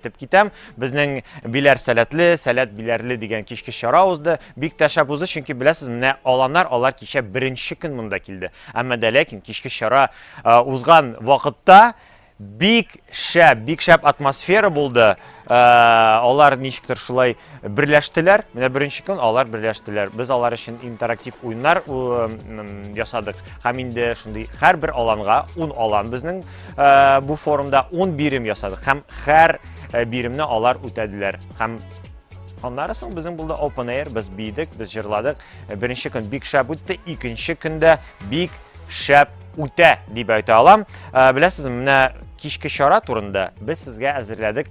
Теп китәм, безнең биләр сәләтле, сәләт биләрле дигән кичке чара узды. Бик тә шәп узды, чөнки беләсез, менә аланнар, алар кичә беренче көн монда килде. Әмма дә ләкин кичке чара э, узган вакытта бик шәп, бик шәп атмосфера булды. Э, алар ничектер шулай берләштеләр. Менә беренче көн алар берләштеләр. Без алар өчен интерактив уеннар ясадык. Һәм инде шундый һәрбер аланга 10 алан безнең э, бу форумда 10 бирем ясадык. Һәм һәр э, биремне алар үтәделәр. Һәм Аннары соң безнең булды Open Air, без бийдек, без җырладык. Э, беренче көн бик шәп үтте, икенче көндә бик шәп үтә дип әйтә алам. Беләсезме, менә кичке чара турында без сезгә әзерләдек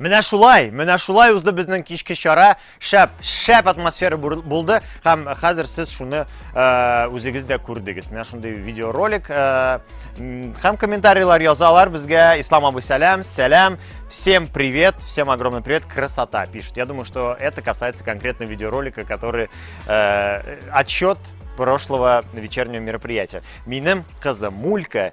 Менә шулай, менә шулай узды безнең кичке чара. Шәп, шәп атмосфера булды. Һәм хәзер сез шуны э, үзегез дә күрдегез. Менә шундый видеоролик. Э, һәм комментарийлар язалар безгә. Ислам абый сәлам, сәлам. Всем привет, всем огромный привет, красота пишет. Я думаю, что это касается конкретно видеоролика, который э, отчет прошлого вечернего мероприятия. Минем кызы Мулька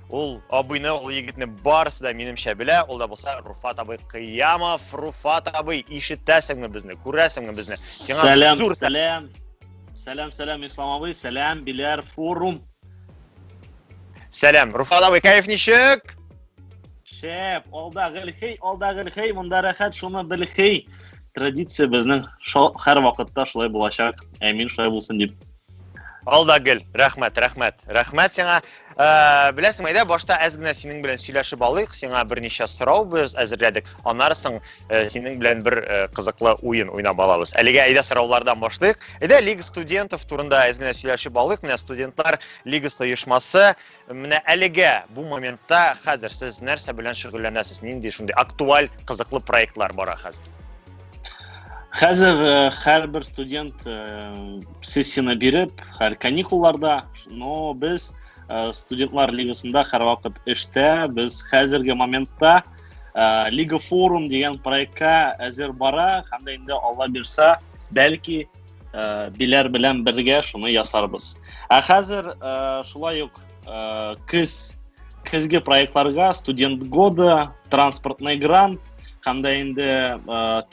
Ул абыйны, ул егетне барысы да минемчә белә. Ул да булса Руфат абый Кыямов. Руфат абый, ишетәсеңме безне? Күрәсеңме безне? Сиңа сәлам, зур сәлам. Сәлам, сәлам, Ислам абый. Сәлам, Биләр форум. Сәлам. Руфат абый, кайф ничек? Шәп, алда гелхей, алда гелхей, монда рәхәт, шуны белхей. Традиция безнең һәр вакытта шулай булачак. Әмин шулай булсын дип Алда гел, рәхмәт, рәхмәт, рәхмәт сиңа. Ә, беләсең, әйдә башта әз генә синең белән сөйләшеп алыйк. Сиңа берничә сорау без әзерләдек. Анарсың э, синең белән бер э, кызыклы уен уйнап алабыз. Әлегә әйдә сораулардан башлыйк. Әйдә Лига студентов турында әз генә сөйләшеп алыйк. Менә студентлар лигасы оешмасы Менә әлегә бу моментта хәзер сез нәрсә белән шөгыльләнәсез? Нинди шундый актуаль, кызыклы проектлар бара хәзер? Хәзер э, һәрбер студент э, сессияне биреп, һәр каникулларда, но без э, студентлар лигасында һәрвакыт эштә, без хәзерге моментта Лига форум дигән проектка әзер бара, һәм дә инде Алла бирса, бәлки Э, биләр белән бергә шуны ясарбыз. Ә хәзер э, шулай ук э, көз көзге проектларга студент года, транспортный грант һәм дә инде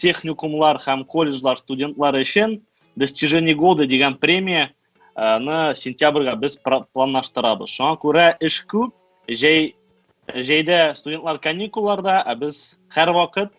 техникумлар һәм колледжлар студентлары өчен достижение года дигән премия ны сентябрьгә без планлаштырабыз. Шуңа күрә эш күп, җәй җәйдә студентлар каникулларда, ә без һәрвакыт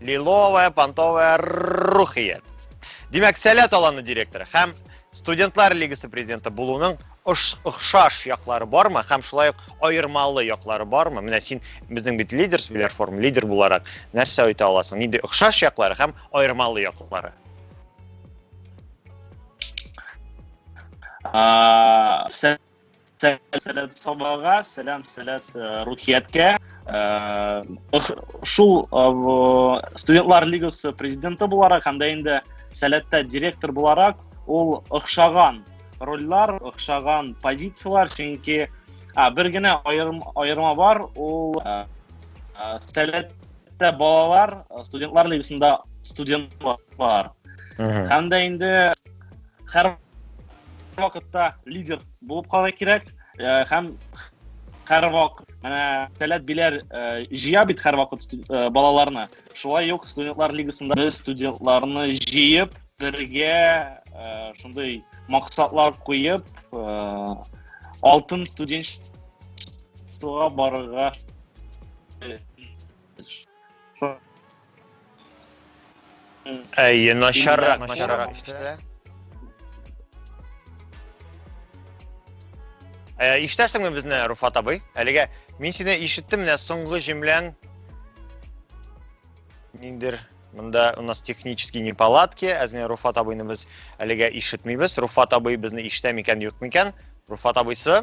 Лиловая понтовая рухият. Димәк, Сәләт аланы директоры һәм студентлар лигасы президенты булуның охшаш яклары бармы һәм шулай ук аермалы яклары бармы менә син безнең бит лидер билер форум лидер буларак нәрсә әйтә аласың нинди охшаш яклары һәм аермалы яклары сәләт сабага сәлам сәләт э, рухияткә э, шул э, студентлар лигасы президенты буларак һәм дә инде сәләттә директор буларак ул охшаган рольләр охшаган позицияләр чөнки бер генә аерым аерма бар ул сәләттә балалар студентлар лигасында студентлар һәм дә инде һәр вакытта лидер Булып кала кирәк һәм һәрвак менә таләп биләр җыя бит һәрвакыт балаларны. Шулай ук студентлар лигасында без студентларны җыеп, бергә шундый максатлар куеп, алтын студент барырга Әйе, начаррак, начаррак иштелә. Ә иштәсеңме безне, Руфат абый? Әлегә мин сине ишеттем, менә соңгы җөмләң ниндер Монда у нас технические неполадки, әзме Руфат абыйны без әлегә ишетмибез. Руфат абый безне ишетә микән, юк микән? Руфат абыйсы?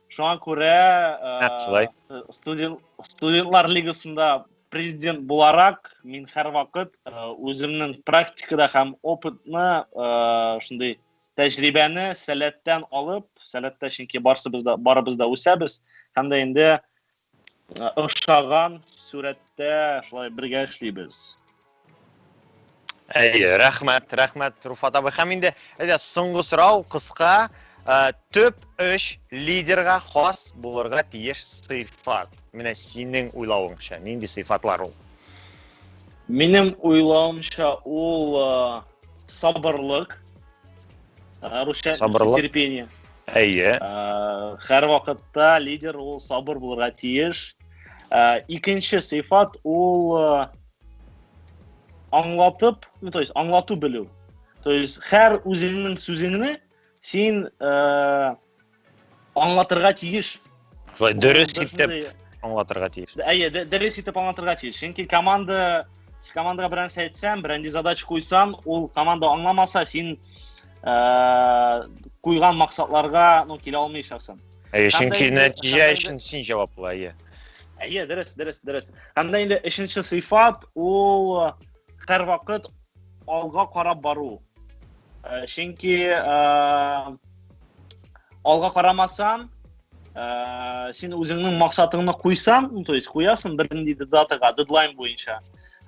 Шуңа күрә э, студент, студентлар лигасында президент буларак мин һәрвакыт э, үземнең практикада һәм опытны э, шундый тәҗрибәне сәләттән алып сәләттә чөнки барсыбыз да барыбыз да үсәбез һәм дә инде ошаган сурәттә шулай бергә эшлибез. Әйе, рәхмәт, рәхмәт, Руфат абый. Һәм инде, әйдә, соңгы сорау, кыска. Ә, төп өч лидерга хас булырга тиеш сыйфат. Менә синең уйлавыңча, нинди сыйфатлар ул? Минем уйлавымча, ул сабырлык, русча сабырлык терпение әйе һәрвакытта лидер ул сабыр булырга тиеш икенче сыйфат ул аңлатып ну то есть аңлату белү то есть һәр үзеңнең сүзеңне син Аңлатырга тиеш. Шулай дөрес Ул итеп шундый- аңлатырга тиеш. Д- Әйе, д- дөрес итеп аңлатырга тиеш. Чөнки команда син командага бер нәрсә әйтсәң, берәнди задача куйсаң, ул команда аңламаса, син э, куйган максатларга ну, килә алмыйчаксың. Әйе, Һәм дә чөнки инде- нәтиҗә һәм дә инде- өчен син җаваплы, әйе. Әйе, дөрес, дөрес, дөрес. Һәм дә инде өченче сыйфат ул һәрвакыт алга карап бару. Э, Чөнки э, алга карамасаң ә, син үзеңнең максатыңны куйсаң ну, то есть куясың бер ниндидер датага дедлайн буенча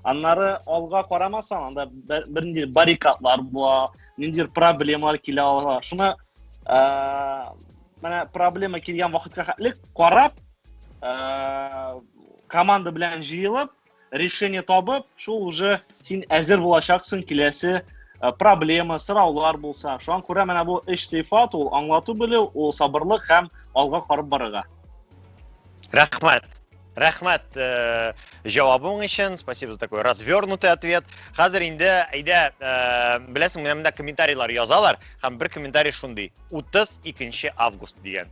аннары алга карамасаң анда бер ниндидер баррикадлар була ниндидер проблемалар килә ала шуны ә, менә проблема килгән вакытка хәтлек карап ә, команда белән җыелып решение табып, шул уже син әзер булачаксың киләсе э, проблема, сораулар булса. Шуңа күрә менә бу эш сыйфат ул аңлату белү, ул сабырлык һәм алга карап барырга. Рәхмәт. Рәхмәт э, җавабың өчен. Спасибо за такой развернутый ответ. Хәзер инде әйдә, э, беләсең, менә монда комментарийлар язалар һәм бер комментарий шундый. 32 август дигән.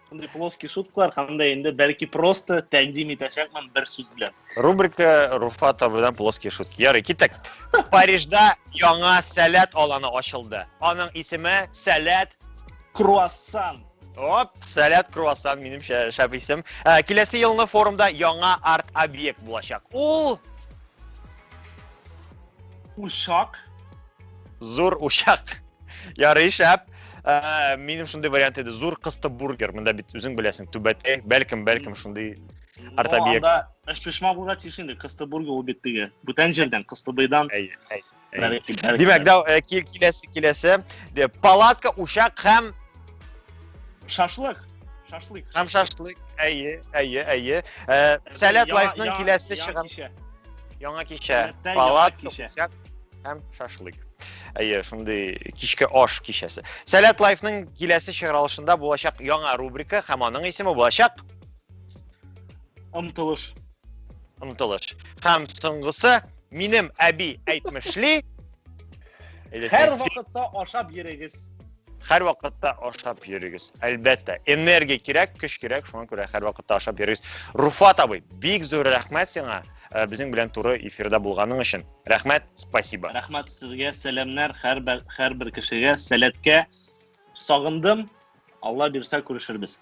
Шундый плоский шуткалар һәм дә инде бәлки просто тәкъдим итәчәкмен бер сүз белән. Рубрика Руфа табыдан плоские шутки. Ярый, китәк. Парижда яңа сәләт аланы ачылды. Аның исеме Сәләт круассан. Оп, сәләт круассан минем шәп исем. Ә, киләсе елны форумда яңа арт объект булачак. Ул Ушак. Зур учак. Ярый шәп. Ә, минем шундый вариант иде. Зур кысты бургер. Монда бит үзең беләсең, түбәтәй, бәлкем, бәлкем шундый артобиек. Анда эшпешма булга тиеш инде. Кысты бургер ул бит теге. Бүтән җирдән, кысты быйдан. Әйе, әйе. Димәк, да э, киләсе киләсе. Палатка, учак һәм шашлык. Шашлык. Һәм шашлык. Әйе, әйе, әйе. Э, Сәләт лайфның киләсе чыгар. Яңа кичә. Палатка, учак. һәм шашлык. Әйе, шундый кичке аш кичәсе. Сәләт лайфның киләсе чыгарылышында булачак яңа рубрика һәм аның исеме булачак Омтылыш. Омтылыш. Һәм соңгысы минем әби әйтмешли. Һәр вакытта ашап йөрегез. Һәр вакытта ашап йөрегез. Әлбәттә, энергия кирәк, көч кирәк, шуңа күрә һәр вакытта ашап йөрегез. Руфат абый, бик зур рәхмәт сиңа. Э, безнең белән туры эфирда булганың өчен рәхмәт спасибо рәхмәт сезгә сәламнәр һәрбер кешегә сәләткә сагындым алла бирсә күрешербез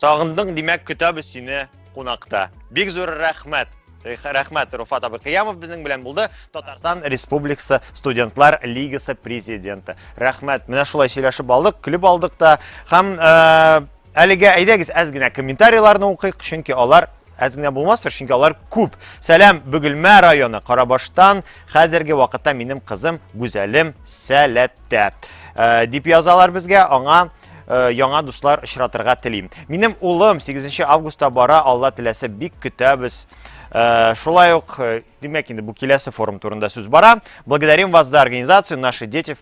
сагындың димәк көтәбез сине кунакта бик зур рәхмәт рәхмәт руфат абыкыямов безнең белән булды татарстан республикасы студентлар лигасы президенты рәхмәт менә шулай сөйләшеп алдык көлеп алдык та һәм э, әлегә әйдәгез әз генә комментарийларны укыйк чөнки алар Әз генә булмастыр, чөнки алар күп. Сәлам, Бөгелмә районы, Карабаштан. Хәзерге вакытта минем кызым Гүзәлем сәләттә. Э, дип язалар безгә, аңа э, яңа дуслар очратырга телим. Минем улым 8 августта бара, Алла теләсә бик көтәбез. Э, шулай ук, димәк инде бу киләсе форум турында сүз бара. Благодарим вас за организацию, наши дети в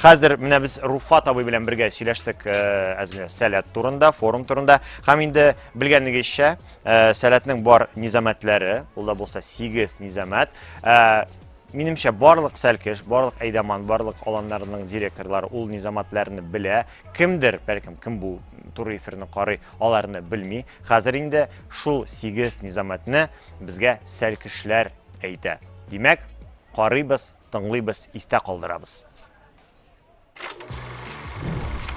Хәзер менә без Руфат абый белән бергә сөйләштек әзме сәләт турында, форум турында. Һәм инде белгәнегезчә, сәләтнең бар низамәтләре, ул да булса 8 низамәт. Минемчә, барлык сәлкеш, барлык әйдәман, барлык аланнарының директорлары ул низаматларны белә. Кемдер, бәлкем, кем бу туры эфирны карый, аларны белми. Хәзер инде шул 8 низамәтне безгә сәлкешләр әйтә. Димәк, карыйбыз, тыңлыйбыз, истә калдырабыз.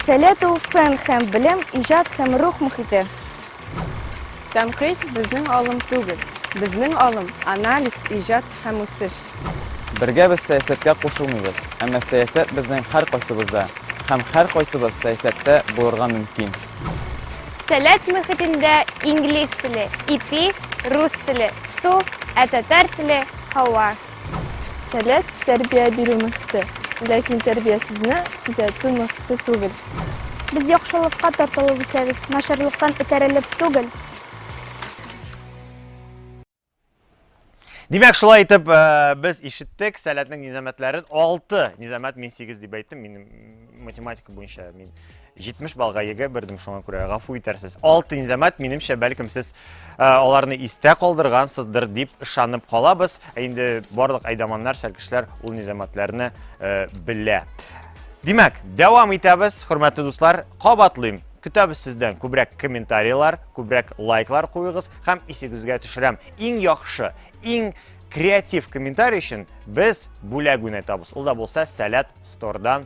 Сәләт ул фән һәм белем, иҗат һәм рух мөхите. Тәнкыйть безнең алым түгел. Безнең алым, анализ, иҗат һәм үсеш. Бергә без сәясәткә кушылмыйбыз, әмма сәясәт безнең һәркайсыбызда һәм һәркайсыбыз сәясәттә булырга мөмкин. Сәләт мөхитендә инглиз теле, ипи, рус теле, су, ә татар теле, һава. Сәләт, тәрбия бирү мөхите, ләкин тәрбиясезне төзәтү мөхите түгел. Без яхшылыкка тартылып үсәбез, начарлыктан этәрелеп түгел. Димәк, шулай итеп, без ишеттек Сәләтнең низамәтләрен. Алты низамәт, мин сигез дип әйттем, минем математика буенча мин 70 балга йөге бердем шуңа күрә гафу итәрсез. Алтын замат минемчә бәлкем сез э, аларны истә калдыргансыздыр дип ышанып калабыз. Ә инде барлык айдаманнар, сәлкешләр ул низаматларны э, белә. Димәк, дәвам итәбез, хөрмәтле дуслар, кабатлыйм. Көтәбез сездән күбрәк комментарийлар, күбрәк лайклар куегыз һәм исегезгә төшерәм. Иң яхшы, иң креатив комментарий өчен без бүләк уйнатабыз. Ул да булса Сәләт стордан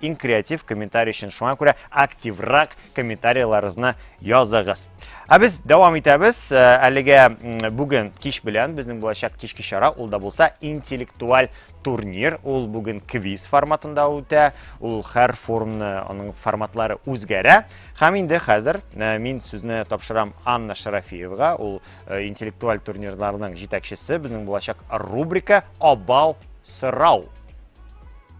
иң креатив комментарий өчен. Шуңа күрә активрак комментарийларыгызны языгыз. Ә без дәвам итәбез. Э, әлегә бүген кич белән безнең булачак кичке чара ул да булса интеллектуаль турнир. Ул бүген квиз форматында үтә. Ул һәр форумны аның форматлары үзгәрә. Һәм инде хәзер э, мин сүзне тапшырам Анна Шарафиевга. Ул э, интеллектуаль турнирларның җитәкчесе. Безнең булачак рубрика Абау сорау.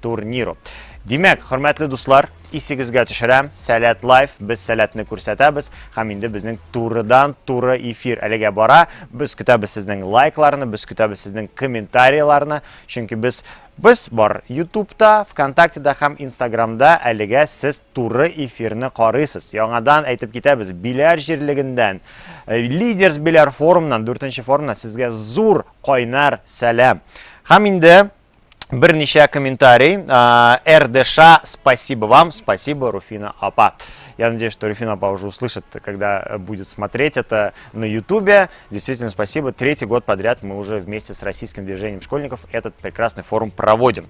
турниру. Димәк, хөрмәтле дуслар, исегезгә төшерәм, Сәләт Лайф, без сәләтне күрсәтәбез, һәм инде безнең турыдан туры эфир әлегә бара. Без көтәбез сезнең лайкларны, без көтәбез сезнең комментарийларны, чөнки без Без бар Ютубта, ВКонтактеда һәм Инстаграмда әлегә сез туры эфирны карыйсыз. Яңадан әйтеп китәбез, Биләр җирлегендән, э, Лидерс Биләр форумнан, 4 форумнан сезгә зур кайнар сәлам. Һәм инде берничә комментарий. РДШ, спасибо вам, спасибо, Руфина Апа. Я надеюсь, что Руфина Апа уже услышит, когда э, будет смотреть это на Ютубе. Действительно, спасибо. Третий год подряд мы уже вместе с российским движением школьников этот прекрасный форум проводим.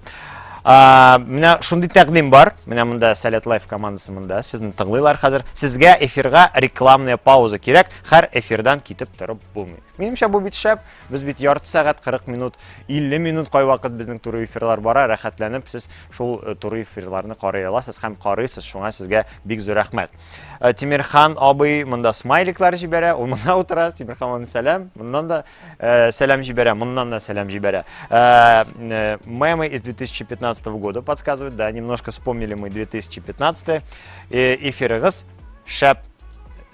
А, менә шундый тәкъдим бар. Менә монда Салят Лайф командасы монда. Сезне тыңлыйлар хәзер. Сезгә эфирга рекламная пауза кирәк. Һәр эфирдан китеп торып булмый. Минемчә бу бит шәп. Без бит ярты сәгать, 40 минут, 50 минут кайвакыт безнең туры эфирлар бара, рәхәтләнеп сез шул э, туры эфирларны карый аласыз һәм карыйсыз, шуңа сезгә бик зур рәхмәт. Э, Тимирхан абый монда смайликлар җибәрә, ул монда утыра, Тимирхан аны сәлам, моннан да э, сәлам җибәрә, моннан да сәлам җибәрә. Э, э, мемы из 2015 года подсказывают, да, немножко вспомнили мы 2015 э, эфирыгыз. Шәп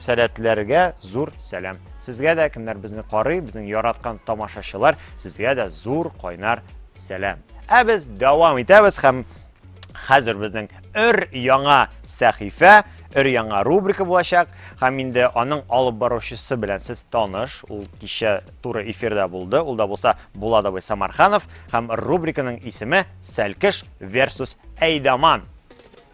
сәләтләргә зур сәлам. Сезгә дә кемнәр безне карый, безнең яраткан тамашачылар, сезгә дә зур кайнар сәлам. Ә без дәвам итәбез һәм хәзер безнең өр яңа сәхифә, өр яңа рубрика булачак һәм инде аның алып баручысы белән сез таныш. Ул кичә туры эфирда булды. Ул да булса Буладовый Самарханов һәм рубриканың исеме Сәлкеш versus Әйдаман.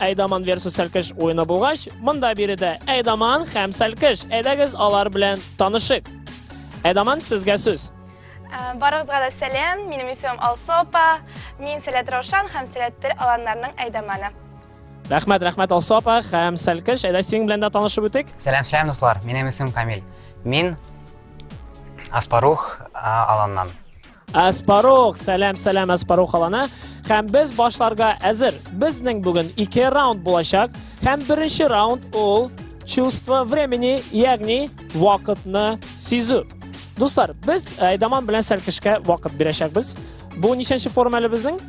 Әйдаман версус Сәлкеш уены булгач, монда биредә Әйдаман һәм Сәлкеш. Әйдәгез алар белән танышык. Әйдаман, сезгә сүз. Ә, барыгызга да сәлам, минем исемем Алсу апа. Мин Сәләт Раушан һәм Сәләт тел аланнарның әйдаманы. Рәхмәт, рәхмәт Алсу апа һәм Сәлкеш. Әйдә синең белән дә танышып үтик. Сәлам, сәлам дуслар. Минем исемем Камил. Мин Аспарух аланнан. Аспарух, сәлам, сәлам Аспарух алана. Һәм без башларга әзер. Безнең бүген ике раунд булачак. Һәм беренче раунд ул чувство времени, ягъни вакытны сизү. Дуслар, без Айдаман белән Сәлкешкә вакыт бирәчәкбез. Бу ничәнче форум әле безнең?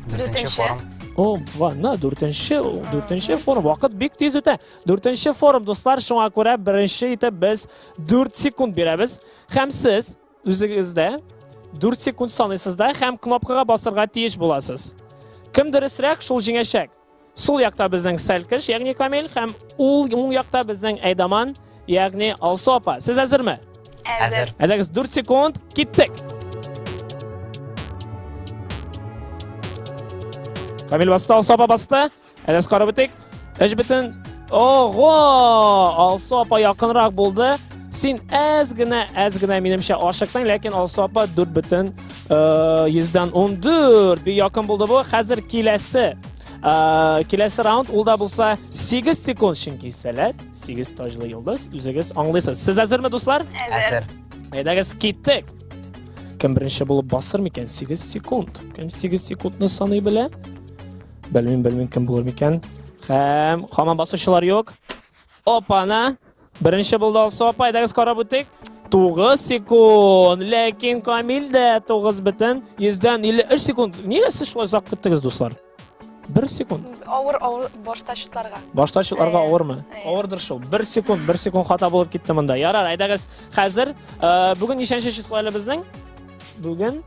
Дүртенче форум. О, ванна, дүртенче, дүртенче форум. Вакыт бик тиз үтә. Дүртенче форум, дуслар, шуңа күрә беренче итеп без 4 секунд бирәбез. Һәм сез Үзегездә 4 секунд саныйсыз да һәм кнопкага басырга тиеш буласыз. Кем дөресрәк, шул җиңәчәк. Сул якта безнең Сәлкеш, ягъни Камил һәм ул уң якта безнең Әйдаман, ягъни Алсу апа. Сез әзерме? Әзер. Әзер. 4 секунд, киттек. Камил басты, Алсу апа басты. Әнәс карап үтик. Эш бөтен. Ого! Алсу апа якынрак булды. Син әз генә, әз генә минемчә ашыктың, ләкин Алсу апа 4 бөтен 100-дән 14. Бик якын булды бу. Хәзер киләсе киләсе раунд ул да булса 8 секунд чөнки сәләт 8 таҗлы йолдыз үзегез аңлыйсыз сез әзерме дуслар әзер әйдәгез киттек кем беренче булып басыр микән 8 секунд кем 8 секундны саный белә Белмим, белмим, кем булыр микән. Хәм, хаман басучылар юк. Опана! Беренче булды алса апа, әйдәгез карап үтик. 9 секунд. Ләкин Камил дә 9 бетен. 100-дән 53 секунд. Нигә сез шулай озак көттегез, дуслар? 1 секунд. Авыр, авыр башта шутларга. Башта шутларга э, авырмы? Э. Авырдыр шул. 1 секунд, 1 секунд хата булып китте монда. Ярар, әйдәгез. Хәзер э, бүген ничәнче число әле безнең? Бүген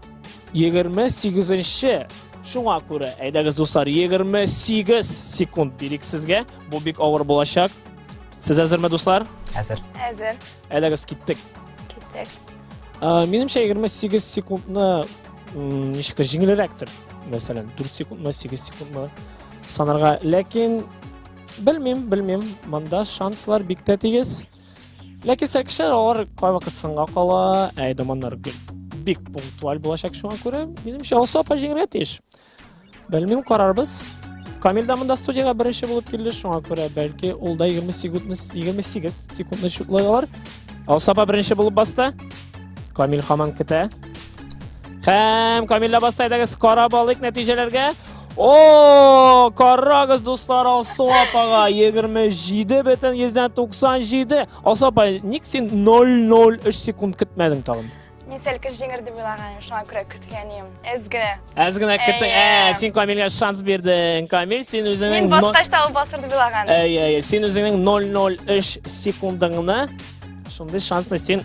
28 нче Шуңа күрә, әйдәгез, дуслар, 28 секунд бирик сезгә. Бу бик авыр булачак. Сез әзерме, дуслар? Әзер. Әзер. Әйдәгез, киттек. Киттек. Минемчә, 28 секундны ничек тә җиңелрәктер. Мәсәлән, 4 секундмы, 8 секундмы санарга. Ләкин белмим, белмим. Монда шанслар бик тә тигез. Ләкин сәкешәр алар кайвакыт сынга кала, ә эдаманнар бик пунктуаль булачак шуңа күрә, минемчә, Алсу апа җиңергә тиеш. Белмим, карарбыз. Камил да монда студияга беренче булып килде, шуңа күрә бәлки ул да 20 секундны 28 секундны чуклай алар. Алсу апа беренче булып басты. Камил хаман көтә. Һәм Камилла Бастайдагы скора балык нәтиҗәләргә. О, карагыз, дуслар, Алсу апага 27 бөтен 197. Алсу апа, ник син 003 секунд көтмәдең тагын? Мин сәлкеш җиңер дип уйлаганым, шуңа күрә көткәнем. Әз генә. Әз генә көттең. Ә, син Камилгә шанс бирдең. Камил, син үзеңнең Мин баскач та ул басыр дип уйлаганым. Әй, әй, син үзеңнең 003 секундыңны шундый шансны син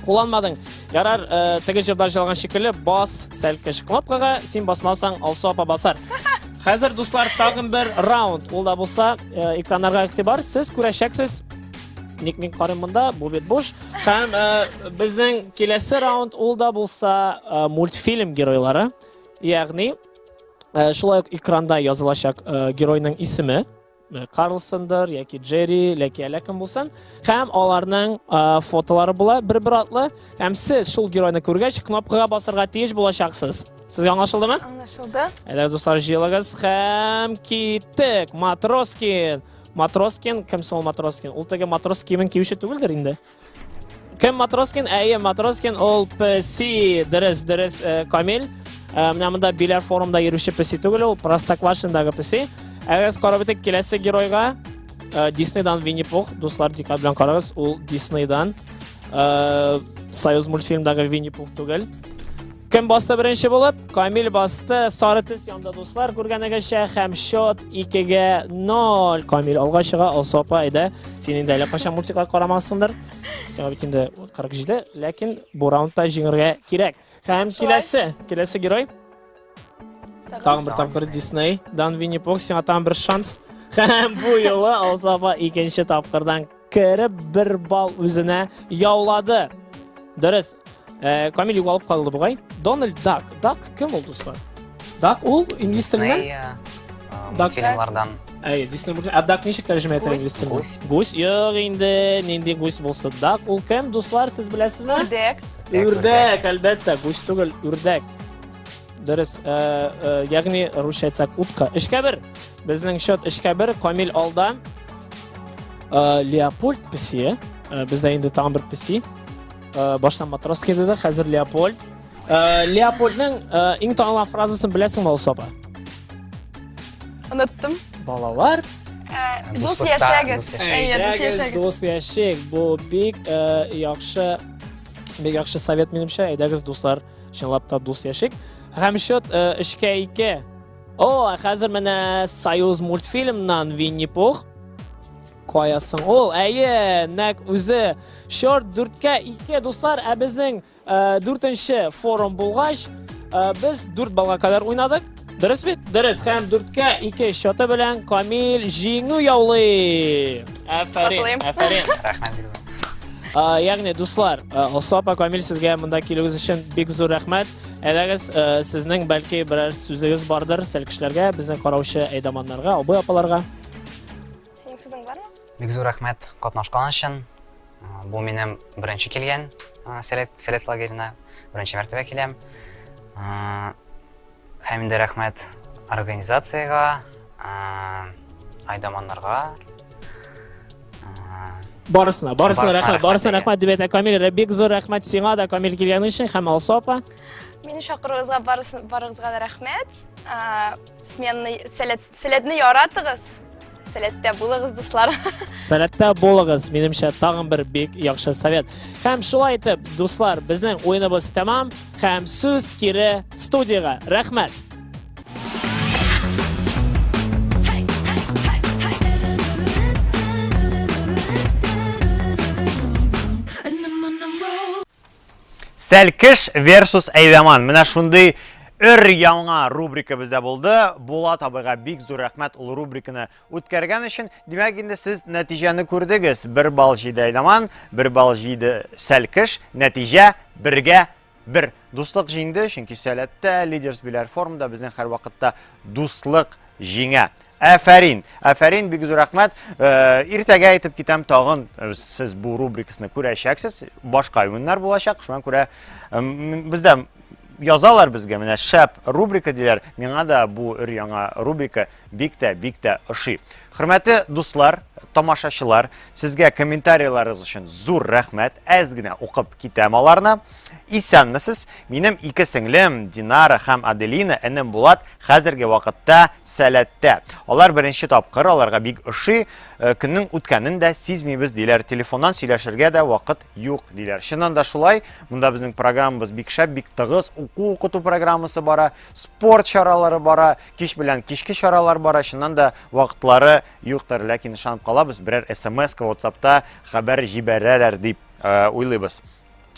кулланмадың. Ярар, э, теге җырда җырлаган шикелле бас сәлкеш кнопкага, син басмасаң, Алсу апа басар. Хәзер, дуслар, тагын бер раунд. Ул да булса, э, экраннарга игътибар. Сез күрәчәксез. Ник мин карыйм монда? Бу бит буш. Һәм э, безнең киләсе раунд ул да булса э, мультфильм геройлары. Ягъни, э, шулай ук экранда язылачак э, геройның исеме. Э, карлсондыр яки джерри яки әллә кем булсын һәм аларның э, фотолары була бер бер атлы һәм сез шул геройны күргәч кнопкага басырга тиеш булачаксыз сезгә аңлашылдымы аңлашылды әйдә дуслар җыелыгыз һәм киттек матроскин матроскин кем соң ул матроскин ул теге матрос киемен киюче түгелдер инде Кем Матроскин? Әйе, Матроскин ул песи, дөрес, дөрес, э, Камил. Э, менә монда Биләр форумда йөрүче песи түгел, ул Простоквашиндагы песи. Әгәр карап үтик киләсе геройга, э, Диснейдан Винни Пух, дуслар дикат белән карагыз, ул Диснейдан. Союз мультфильмдагы Винни Пух түгел. Кем басты беренче булып? Камил басты. Сары төс янда дуслар күргәнегезчә һәм счет 2-гә 0. Камил алга чыга. Алсу апа, әйдә. Син инде әле кайчан мультиклар карамассыңдыр. Сиңа бит инде 47, ләкин бу раундта җиңергә кирәк. Һәм киләсе, киләсе герой. Тагын бер тапкыр Дисней, Дан Винни Пух, сиңа тагын бер шанс. Һәм бу юлы Алсу апа икенче тапкырдан Кереп бер бал үзенә яулады. Дөрес. Э, Камил югалып калды бугай. Дональд Дак. Дак кем ул, дуслар? Дак ул инглиз телендә? Дисней, э, э, Дак- мультфильмлардан. Әй, Дисней мультфильм. А Дак ничек тәрҗемә итә Гусь. инглиз телендә? Гусь. Гусь. Юк инде, нинди гусь булса. Дак ул кем, дуслар, сез беләсезме? Үрдәк. Үрдәк, Үрдәк, әлбәттә, гусь түгел, үрдәк. Дөрес. Э, э, Ягъни русча әйтсәк, утка. Эшкә бер. Безнең счет эшкә бер, Камил алда. Э, Леопольд песе, э, бездә инде тагын бер песе. Э, баштан матрос килде дә, хәзер Леопольд. Леопольдның иң танылган фразасын беләсеңме, Алсаба? Оныттым. Балалар, Дус яшәгез. Әйе, дус яшәгез. Дус яшәгез. Бу бик яхшы бик яхшы совет минемчә. Әйдәгез, дуслар, чынлап та дус яшик. Һәм счет 3-2. О, ә хәзер менә Союз мультфильмнан Винни-Пух. Каясың ул? Әйе, нәк үзе. Шорт дүрткә ике, дуслар, ә безнең э, дүртенче форум булгач, э, без дүрт балга кадәр уйнадык. Дөрес бит? Дөрес. Һәм дүрткә ике счеты белән Камил җиңү яулый. Афәрин, Котлыйм. афәрин. Рәхмәт бирдем. Ә, Ягъни, дуслар, ә, Алсу апа Камил сезгә монда килүегез өчен бик зур рәхмәт. Әләгез, э, сезнең бәлки берәр сүзегез бардыр сәл кешеләргә, безнең караучы әйдаманнарга, абый апаларга. Синең сүзең бармы? Бик зур рәхмәт катнашкан өчен. Э, бу минем беренче килгән э, сәләт сәләт лагерена, беренче мәртәбә киләм. Һәм инде рәхмәт организациягә, Айдаманнарга. Барысына, барысына рәхмәт, барысына рәхмәт дип әйтә Камил. Бик зур рәхмәт сиңа да Камил килгән өчен һәм Алсу апа. Мине чакыруыгызга барыгызга да рәхмәт. Сменны сәләтне яратыгыз. Сәләттә булыгыз, дуслар. Сәләттә булыгыз, минемчә, тагын бер бик яхшы совет. Һәм шулай итеп, дуслар, безнең уеныбыз тәмам, һәм сүз кире студияга. Рәхмәт! Сәлкеш versus Әйдаман. Менә шундый өр яңа рубрика бездә булды. Булат абыйга бик зур рәхмәт ул рубриканы үткәргән өчен. Димәк, инде сез нәтиҗәне күрдегез. Бер балл җиде Әйдаман, бер балл җиде Сәлкеш. Нәтиҗә бергә Бер, дуслык җиңде, чөнки сәләттә, лидерс биләр формда безнең һәрвакытта дуслык җиңә. Әфәрин, әфәрин, бик зур рәхмәт. Э, иртәгә әйтеп китәм, тагын э, сез бу рубрикасны күрәчәксез. Башка уеннар булачак, шуңа күрә э, бездә язалар безгә, менә шәп рубрика диләр. Миңа да бу өр яңа рубрика Бик тә, бик тә ошый. Хөрмәтле дуслар, тамашачылар, сезгә комментарийларыгыз өчен зур рәхмәт. Әз генә укып китәм аларны. Исәнмесез. Минем ике сеңлем Динара һәм Аделина, энем Булат хәзерге вакытта сәләттә. Алар беренче тапкыр, аларга бик ошый. Э, көннең үткәнен дә сизмибез диләр. Телефоннан сөйләшергә дә вакыт юк диләр. Чыннан да шулай. Монда безнең программабыз бик шәп, бик тыгыз. Уку укыту программасы бара, спорт чаралары бара. кич белән кичке чаралар бара, чыннан да вакытлары юктыр, ләкин ышанып калабыз, берәр смс WhatsAppта хәбәр җибәрәләр дип э, уйлыйбыз.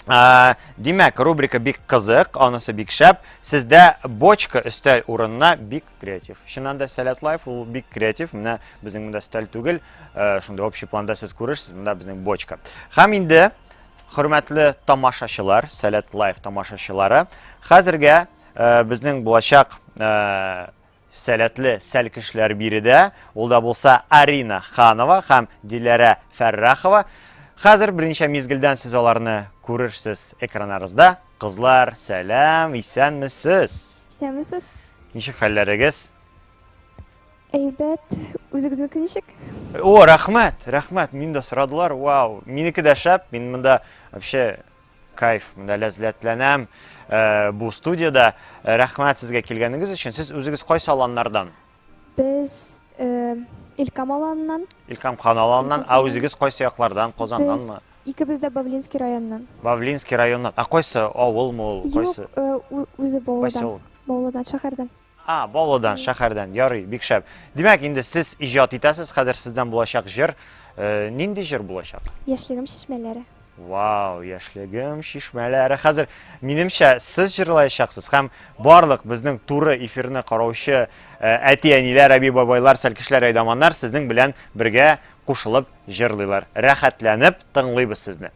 Э, димәк, рубрика бик кызык, анысы бик шәп. Сездә бочка өстәл урынына бик креатив. Чыннан да Сәләт Лайф ул бик креатив. Менә безнең монда өстәл түгел, э, шунда общий планда сез күрерсез, монда безнең бочка. Һәм инде хөрмәтле тамашачылар, Сәләт Лайф тамашачылары, хәзергә Э, безнең булачак э, сәләтле сәл кешеләр биредә. Ул да булса Арина Ханова һәм Диләрә Фәррахова. Хәзер берничә мизгелдән сез аларны күрерсез экраннарызда. Кызлар, сәлам, исәнмесез? Исәнмесез. Ничек хәлләрегез? Әйбәт, үзегезнеке ничек? О, рәхмәт, рәхмәт. Мин дә сорадылар. Вау, минеке дә шәп. Мин монда вообще Кайф, менә ләззәтләнәм бу студиядә. Рәхмәт сезгә килгәнегез өчен. Сез үзегез кайсы аланнардан? Без Илкам аланыннан. Илкам хан аланыннан. Ә үзегез кайсы яклардан? Казаннанмы? Икебез дә Бавлинский районнан. Бавлинский районнан. Ә кайсы авылмы ул? Кайсы? Юк, үзе Баулыдан. Баулыдан шәһәрдән. А, Баулыдан, шәһәрдән, ярый, бик шәп. Димәк, инде сез иҗат итәсез, хәзер сездән булачак җыр. Э, нинди җыр булачак? Яшьлегем чишмәләре. Вау, яшьлегем чишмәләре. Хәзер минемчә сез җырлаячаксыз һәм барлык безнең туры эфирны караучы э, әти-әниләр, әби-бабайлар, сәлкешләр, әйдаманнар сезнең белән бергә кушылып җырлыйлар. Рәхәтләнеп тыңлыйбыз сезне.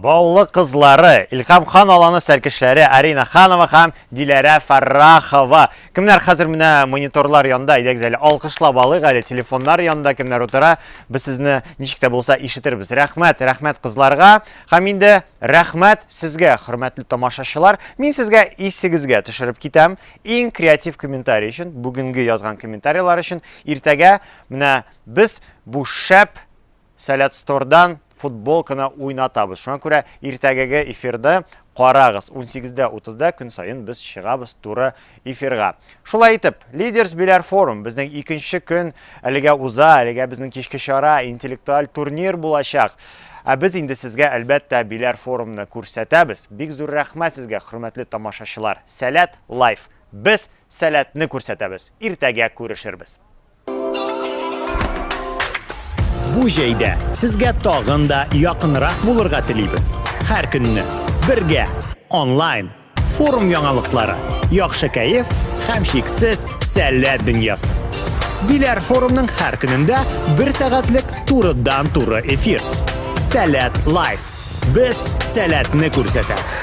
Баулы кызлары, Илһам хан аланы сәркешләре Арина Ханова һәм Диләрә Фәррахова. Кемнәр хәзер менә мониторлар янында? Әйдәгез әле алкышлап алыйк әле. Телефоннар янында кемнәр утыра? Без сезне ничек тә булса ишетербез. Рәхмәт, рәхмәт кызларга. Һәм инде рәхмәт сезгә, хөрмәтле тамашачылар. Мин сезгә исегезгә төшереп китәм. Иң креатив комментарий өчен, бүгенге язган комментарийлар өчен иртәгә менә без бу шәп Сәләтстордан футболканы уйнатабыз. Шуңа күрә иртәгеге эфирды карагыз. 18:30да көн саен без чыгабыз туры эфирга. Шулай итеп, Leaders Беляр форум безнең икенче көн әлегә уза, әлегә безнең кичке чара интеллектуаль турнир булачак. Ә без инде сезгә әлбәттә Беляр форумны күрсәтәбез. Бик зур рәхмәт сезгә, хөрмәтле тамашачылар. Сәләт лайф. Без сәләтне күрсәтәбез. Иртәгә күрешербез. Бу җәйдә сезгә тагын да якынрак булырга телибез. Һәр көнне бергә онлайн форум яңалыклары, яхшы кәеф һәм шиксез сәләт дөньясы. Биләр форумның һәр көнендә бер сәгатьлек турыдан-туры эфир. Сәләт лайф. Без сәләтне күрсәтәбез.